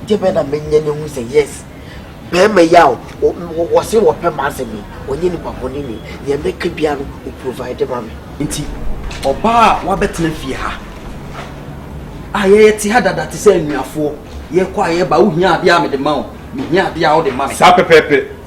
Deɛ bɛn na menyɛ na ehu sɛ yes bɛɛma yi a wɔse wɔpɛ m'asɛm yi ɔnyɛ nipa bɔne ni, nea mɛka biara no ɔprovide ma me. Nti ɔbaa a wabɛtena fie ha a yɛte ha dada te sɛ anuafoɔ, yɛkɔ a yɛba a wohia adeɛ a mede ma wo, mehia adeɛ a wode ma me. Saa pɛpɛɛpɛ.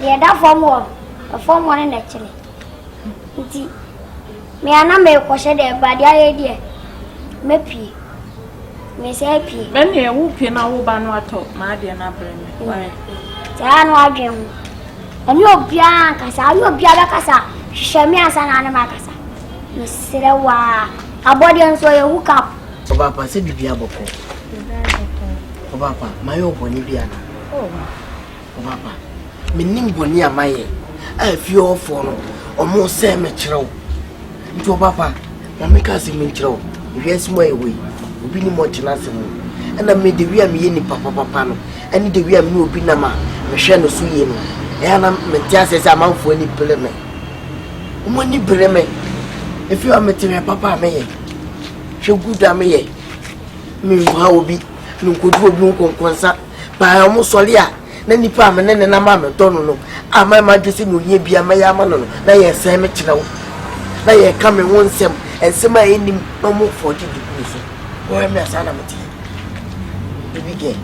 deɛ ɛda fam hɔ no ɛfam hɔ no na ɛkyerɛ nti mea na merekɔhyɛ deɛ ɛbade ayɛ deɛ mɛpie mesɛ pie ɛneɛ wo pie na wo ba no atɔ maadeɛ no abrɛ me saa no adwen ho ɛne obiara nkasa ayɛ obiara bɛkasa hwehwɛ me ansa na ne makasa mesrɛ wo a abɔdeɛ nso ɔyɛ hook up ɔbaapa sɛ biribi abɔkɔ ɔbaapa mayɛ ɔbɔne bi ana oh, Ɔba ba, menim bɔne a mayɛ a efie hɔfoɔ no wɔresɛe me kyerɛ wo. Nti ɔba ba, ma menka asɛm nkyerɛ wo. Wiase mu a yɛwɔ yi, obi nim ɔte n'asɛm mu. Ɛna me Dawid a meyɛ nipa papapa no, ɛne Dawid a mene obi nam a mehwɛ no so yie no, ɛyɛ a na mente aseɛ sɛ amanfoɔ ani bere me. Wɔn ani bere me. Efie hɔ mete hwɛ papa a meyɛ, hwɛ good a meyɛ. Menha obi, menkɔdu obi ho nkɔnkɔnsa. Maa ɔmo sɔre a, na nipa a me ne no nam a medɔ no no a mayɛ m'adwene sɛ nea ohia biara mɛyɛ ama no no, na yɛresɛe me kyerɛw, na yɛreka me ho nsɛm, nsɛm a ennim, na ɔmo fɔɔgye de gu me so. Wɔyɛ me a saa na meteɛ. Baby girl.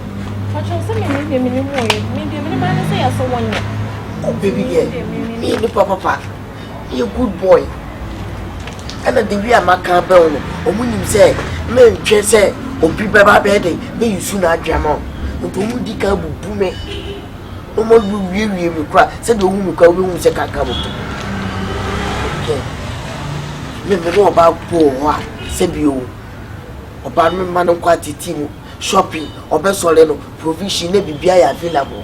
Ɔkyerɛ sɛ me ne deɛ me ne mu ɔyɛ, me deɛ me ne maa ne sɛ yɛasɔ wɔn nyɛ. Baby girl, me yɛ nipa papa. yɛ good boy ɛna the way a maka abɛn no wɔn nim sɛ mentwɛ sɛ obi bɛba bɛyɛ de bɛyi su na adwene ama wɔn nti wɔn di kan bubu me wɔn awu wiewie me kora sɛdeɛ ohu me kora wɔbɛhu sɛ kaka mo okay me me ne ɔbaa kɔ wɔ hɔ a sɛbi o ɔbaa no mma no nkɔ atete mu shopping ɔbɛsɔre no provision na biribi ayɛ available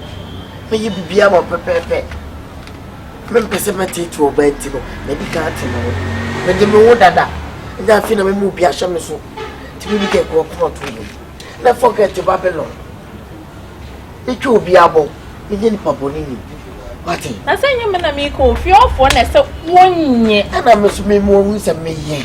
mɛyɛ biribi ama pɛpɛɛpɛ. Mempɛ sɛ mɛteetee wo baa nti no, madi kan ate me ho. Mede me ho dada, na afei na mema obi ahyɛ me so. Nti me Mika kura ɔkoma to mu. Na fɔkɛ te Babilon. Metwa obi abɔ, menyɛ nipa bɔne ni. Wate? Na sɛ nyɛ me na meka ofie ɔfoɔ na ɛsɛ wonye. Ɛna me so memu ɔhu sɛ meyɛ.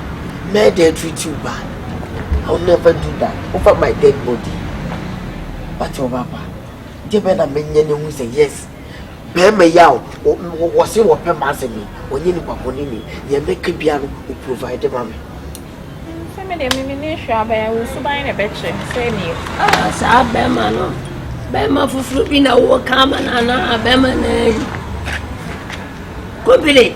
Mɛyɛ dɛn atreat wo ba? I will never do that over my dead body. But your papa, deɛ bɛn na menyɛ no ehu sɛ yes, bɛrima yi a wɔse wɔpɛ m'asɛm yi, ɔnyɛ nipa bɔne ni, deɛ mɛka biara no, o provide ma me. Sɛ me deɛ mimi ne nhwɛ abɛn, wo suban na ɛbɛkyɛ sɛ nie. Ah, saa bɛrima no, bɛrima foforɔ bi na wowɔ ka ama no anaa bɛrima naa yi. Kobire.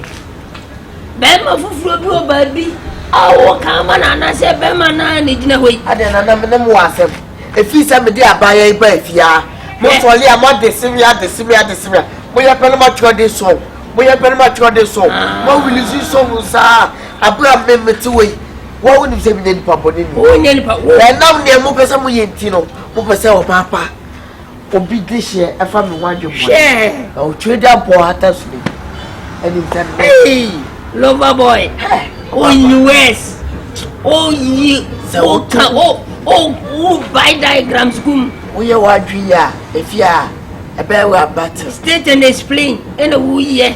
Barima foforɔ bi wɔ baabi a woka ama no anaasɛ barima no ara na ɛgyina hɔ yi? Adɛn na na me ne mo wɔ asɛm? Ɛfiri sɛ mede abaayɛ yi baa fie ara. Mosɔre a, moade se me, ade se me, ade se me a, moyɛ pɛ na moatwerɛden sɔ o, moyɛ pɛ na moatwerɛden sɔ o, moawilisi sɔ o saa a, berɛ a me mete hɔ yi, wo a wonim sɛ menyɛ nipa bɔne ni, ɛnam deɛ mopɛ sɛ moyɛ nti no, mopɛ sɛ ɔbaa pa. Obi dehyeɛ ɛfa me ho adwemmɔne. Na ɔtwerɛ de abɔ hata so no ɛnim sɛ nnɛ. Hey, lover boy, woyi wes, woyi, woka, wo, wo, wo by diagrams gum. Woyɛ w'adwene yi a, efi a ɛbɛyɛ wɔ abate. State and explain, ɛna woyɛ.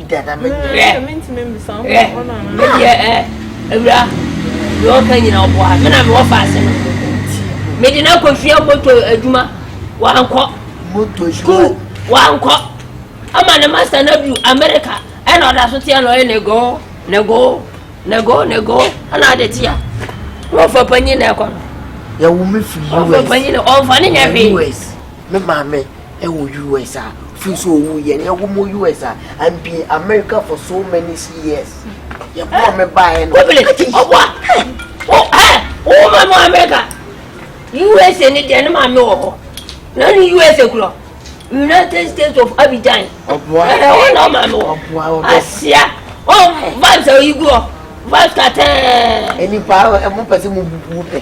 Dada me nyɛ. Mɛ sɛ mentumi mbisa ho ɔno anaa. Me deɛ ɛ awura deɛ ɔka nyina ɔboa me na mewɔ faase no. Mede no akɔsua moto adwuma wankɔ. Moto sukuu wankɔ. Ama ne masta no adu Amerika ɛna ɔda so teɛ na ɔyɛ negoo negoo negoo negoo ɛna ade teɛ. Wɔfa panyin na ɛkɔ no. Yɛwo me firi US. Wɔfa panyin na ɔnfa ne nyɛ hwee. Me maame wɔ US a firi so owu yɛ yɛ wɔn wɔ US a and be America for so many years yɛ bɔ me ba yɛ no. Wobili ɔbɔ o ɛ wo ma mo America USA ni deɛ ne maame wɔ hɔ na ne USA kurɔ United States of Abidjan ɛhɛ hɔ na ɔmaame wɔ asia ɔ vibes a oyi gu hɔ vibes katɛɛ. Nipa mo pɛ sɛ mo bubu pɛ.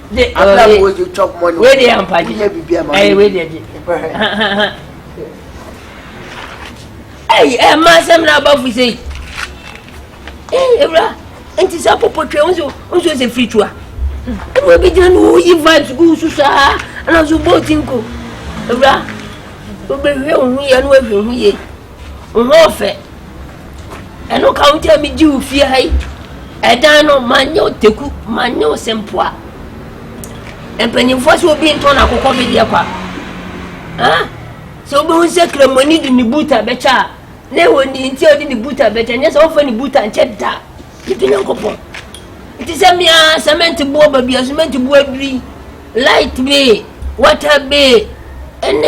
de abira mu wo de chop money wei deɛ ampa gye ɛyɛ wei deɛ gye ɛyi ɛ mma asɛm na aba firi sɛ yi ɛyi ewura nti sɛ popo twɛ nso nso sɛ firi tua ɛmu ebi gyina no woyi vibes gu so saa ɛna nso bɔɔl ti nko ewura wobɛhwɛ wo ho yɛ no wahwɛ ho yie. Wo ho ɔfɛ. Ɛno ka wo ti a megye wo fie ha yi. Ɛdan no manyɛ wo teku manyɛ wo sempoa. Mpanyinfoɔ sɛ obi ntɔn akokɔ bedeɛ kwa. Ah, sɛ wobɛhu sɛ kramoni de ne buta bɛkyɛ a na ɛwɔ ne nti a ɔde ne buta bɛkyɛ nyɛ sɛ wɔmfa ne buta nkyɛ da gye to nyankopɔn nti sɛ mea sɛmɛnte boɔ ba bia sɛmɛnte boɔ aduri Light bill, water bill, ɛne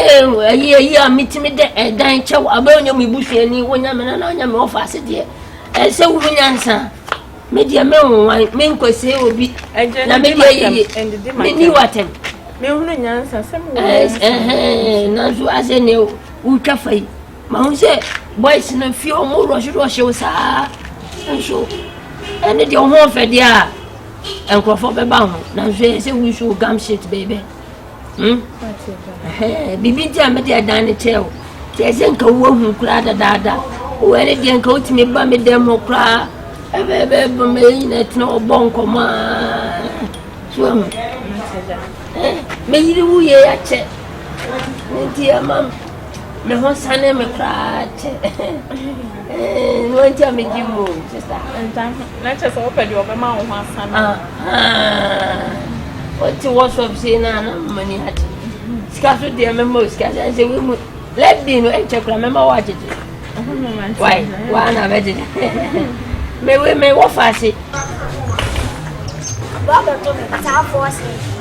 ayi ayi a metumi de ɛdan kyɛw abɛ wonya me busuani wonya me nana wonya me wɔfa ase deɛ ɛsɛ wo mu nyansa me deɛ me nwan me nkɔsie obi na me deɛ yiyi me ni watam nanso asɛ ne wotwa fa yi Mahu sɛ boys no fie ɔmo rɔhye rɔhye wo saa nso ɛne deɛ ɔho ɔfɛ deɛ a nkurɔfoɔ bɛba ho nanso ɛyɛ sɛ wusu wo gam shit bɛɛbɛ hmm? biribi nti a mede ɛdan no kyɛɛ wo nti ɛsɛ nka woahu koraa dadaada wɔ ɛne deɛ nka wotumi ba me dɛm hɔ koraa ɛbɛbɛbɔ ma yɛ nyina tena ɔbɔ nkɔmmɔ a so ahu mɛyere wo yɛ akyɛ ne nti ɛma Me ho sane me koraa kyɛ. Ɛɛ, wɔn ti a me gye mu sista. Nta ho, na kyɛ sɛ wɔpɛ deɛ wɔbɛma wo ho asane. Wɔte wɔsɔp sei na na mani agye. Sika so deɛ mɛma o sika sɛ sɛ wɔmu lɛbi no ɛnkyɛ koraa mɛma wɔ agyegye. Wai, waa na bɛgyegye. Mewe me wɔfa ase. Bɔbɛto me saa fɔɔse.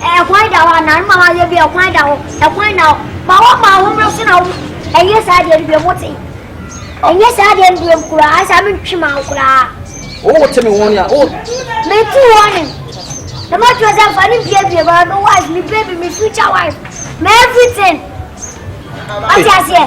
Ɛkwan da hɔ anaa? Mma w'ayɛ bi, ɛkwan da hɔ, ɛkwan da hɔ. Ma wɔmma ahomeɛ so na wo, ɛnyɛ saa deɛ no biom, wote? Ɛnyɛ saa deɛ no biom koraa, ansa mentwe ma wo koraa. Wo wote me wɔne a, wo. Metu wɔne. The match was a funny baby, but my wife, my baby, my future wife, my everything. What you say?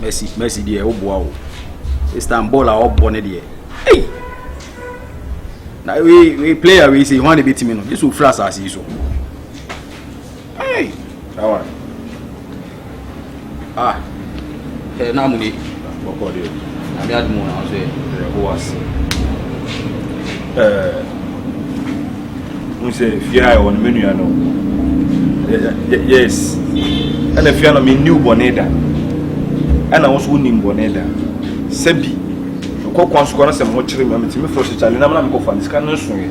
Mercy, Mercy deɛ wo boa o. Istanbul a ɔbɔ ne deɛ. Hey! Na we we player we say ho a na ebetumi no. Yesu ofura asase yi so. Hey! That one. Ah. Hey, na muni. Boko de. Na mi admu na so e ho ase. Eh. Un se fia e on menu ano. Yes. Ana fia na mi new boneda. Ana won so nim boneda. Sebi. Ko kwan so kwan se mo chire mi, mi timi fo se chale na mo na me ko fa. Sika no so e.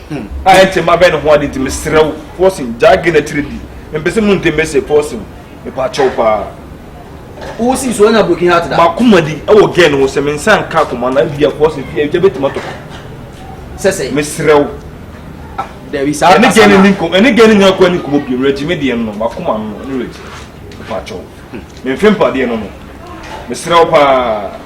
Hmm. A ɛnte ma bɛn ne ho ade nti mesrɛ wo Fosin gyaa ge no akyire di. Mempɛ sɛ mu ntem mese Fosin mepa kyɛw paa. Wo si so anya broken heart da. Makoma di ɛwɔ ge no ho sɛ me nsa nka akoma na bia Fosin fie agya bɛtumi atɔ. Sɛ sɛ. Mesrɛ wo. Ah, dabi saa ɛne ge no ne nkɔm ɛne ge no nyɛ akɔ ne nkɔmɔ bi mmerɛ gyi me deɛ no makoma no ne mmerɛ gyi. Mepa kyɛw. Memfe mpadeɛ no no. Mesrɛ wo paa.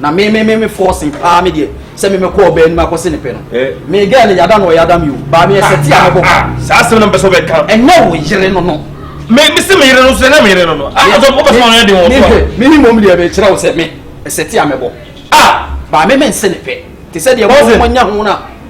Na me me me me forcing paa me deɛ sɛ me mɛkɔ ɔbaa anim akɔse ne pɛ no eh. me girl no yada no ɔyada me o baa me ɛsɛ ti a mɛbɔ ah, ah, saa asɛm na mpɛ sɛ ɔbɛka ɛnyɛ wo yere no no me me se me yere no so ɛnyɛ me yere no no a ah, ɔsɛ ɔbɛ sɛ ɔno yɛ de wɔn so a me ni mom deɛ mekyerɛ wo sɛ me ɛsɛ ti a mɛbɔ a baa me me nse ne pɛ te sɛ deɛ mo mo nya ho na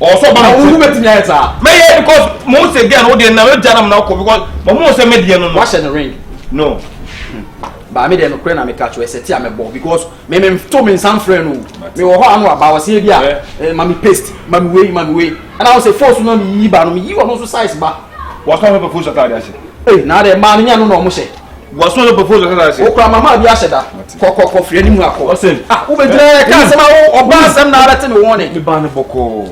ɔsɔ ba na ɔmu bɛ ti mi ayɛ saa. mɛ yɛ because mo se gɛn o deɛ na o gya na mo na ɔkɔ because mɛ mo sɛ mɛ deɛ no no. wahyɛ ne ring. no. baami deɛ no kure na mi ka kyerɛ sɛ ti a mɛ bɔ because mɛ mɛ to mi nsa nfrɛ no mi wɔ hɔ ano aba ɔsi ebi a ma mi paste ma mi wei ma mi wei ɛna ɔsɛ foosu na mi yi ba no mi yi ɔno nso size ba. wɔsɔ fɛ foosu ataade ase. ee naa dɛ maa no nya no na ɔmo hyɛ. wɔsoma no propose ɔkasa ase. wokura mama abi ahyɛ da kɔkɔkɔ firi anim akɔ ɔsɛ ah wobɛgyina yɛ ka asɛm awo ɔba asɛm na abɛte me wɔne me ba no bɔkɔɔ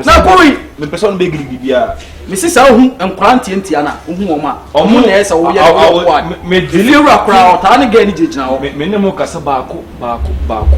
na kɔwi mepɛ sɛ ɔno bɛgiri biribiaa mesi saa wohu nkora ntiantia no wohu wɔm a ɔmo na ɛyɛ sɛ woyɛ wowɔwɔde wura koraa ɔtaa ne gɛ ne gyinagyina hɔ me ne mo kasa baako baako baako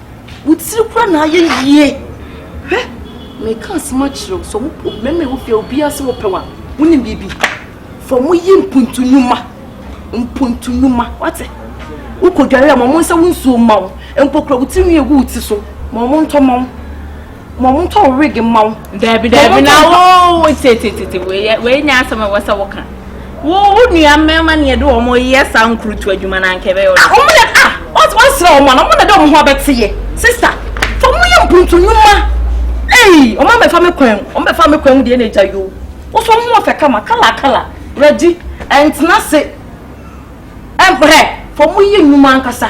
wo tiri kora na ayɛ yie hwɛ meka asɛm akyerɛ wo sɛ mmarima ɛwɔ fie obiara sɛ wɔpɛ wa wonim biribi fa ɔmo yi mpuntu nnwuma mpuntu nnwuma wate wokɔdware a ma ɔmo nsa wo nsuo ma wo mpo kora wo tiri nwi egu wo ti so ma ɔmo ntɔ ma wo ma wɔn ntɔ wig mma wo. Daabi daabi na wo tetete wei nyɛ asɛm a ɛwɔ sɛ woka. Wo wo nua mmarima na yɛde wɔn yɛ saa nkurutu adwuma na anka ɛbɛyɛ ɔdɔ. Wɔn na ah wɔn wɔn srɛ wɔn na wɔn na de wɔn ho abɛte yɛ sista fa wɔn yɛ mpuntu nnwuma. Eyi wɔn abɛfa me kwan mu wɔn bɛfa me kwan mu deɛ na egya yoo. Wosɔ ho ɔfɛ kama kala kala redi ɛntena se. Ɛmprɛ, fa mu yɛ nnwuma ankasa.